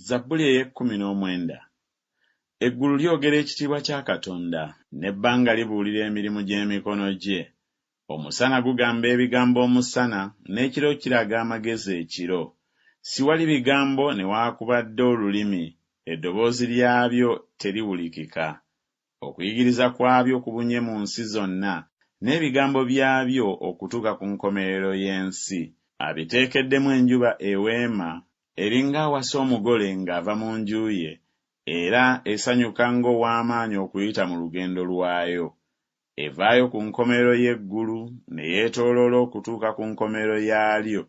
Zabbuli ey'ekkumi n'omwenda. Eggulu lyogera ekitiibwa kya Katonda. N'ebbanga libuulira emirimu gy'emikono gye. Omusana gugamba ebigambo omusana, n'ekiro kiraga amagezi ekiro. Siwali bigambo newakubadde olulimi, eddoboozi lyabyo teriwulikika. Okuyigiriza kwabyo kubunye mu nsi zonna, n'ebigambo byabyo okutuuka ku nkomerero y'ensi. Abiteekeddemu enjuba eweema, eri ng'awasa omugole ng'ava mu nju ye, era esanyuka ng'ow'amaanyi okuyita mu lugendo lwayo. Evaayo ku nkomerero y'eggulu ne yeetooloola okutuuka ku nkomerero yaalyo,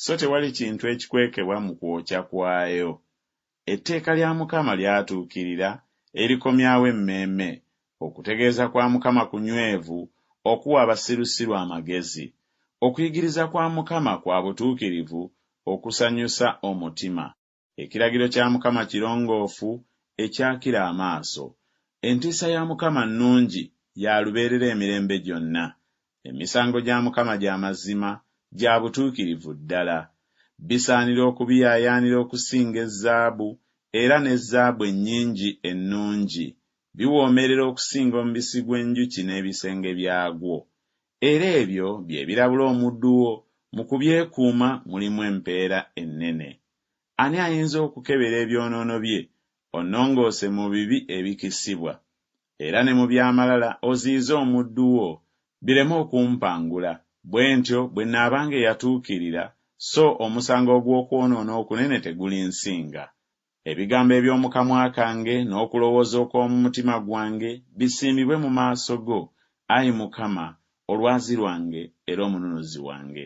so tewali kintu ekikwekebwa mu kwokya kwayo. Etteeka lya Mukama lyatuukirira, erikomyawo emmeeme. Okutegeeza kwa Mukama kunywevu, okuwa abasirusiru amagezi. Okuyigiriza kwa Mukama kwa butuukirivu, okusanyusa omutima. Ekiragiro kya Mukama kirongoofu, ekyakira amaaso. Entiisa ya Mukama nnungi, ya lubeerera emirembe gyonna. Emisango gya Mukama gya mazima, gya butuukirivu ddala. Bisaanira okubiyaayaanira okusinga ezzaabu, era ne zaabu ennyingi ennungi. Biwoomerera okusinga omubisi gw'enjuki n'ebisenge byagwo. Era ebyo bye birabula omuddu wo, mu kubyekuuma mulimu empeera ennene. Ani ayinza okukebera ebyonoono bye, Onnongoose mu bibi ebikisibwa, era ne mu by'amalala oziyize omuddu wo, bireme okumpangula, bwe ntyo bwe nnaabanga eyatuukirira, so omusango ogw'okwonoona okunene tegulinsinga. Ebigambo eby'omu kamwa kange n'okulowooza okw'omu mutima gwange bisiimibwe mu maaso go, ayi Mukama, Olwazi lwange era Omununuzi wange.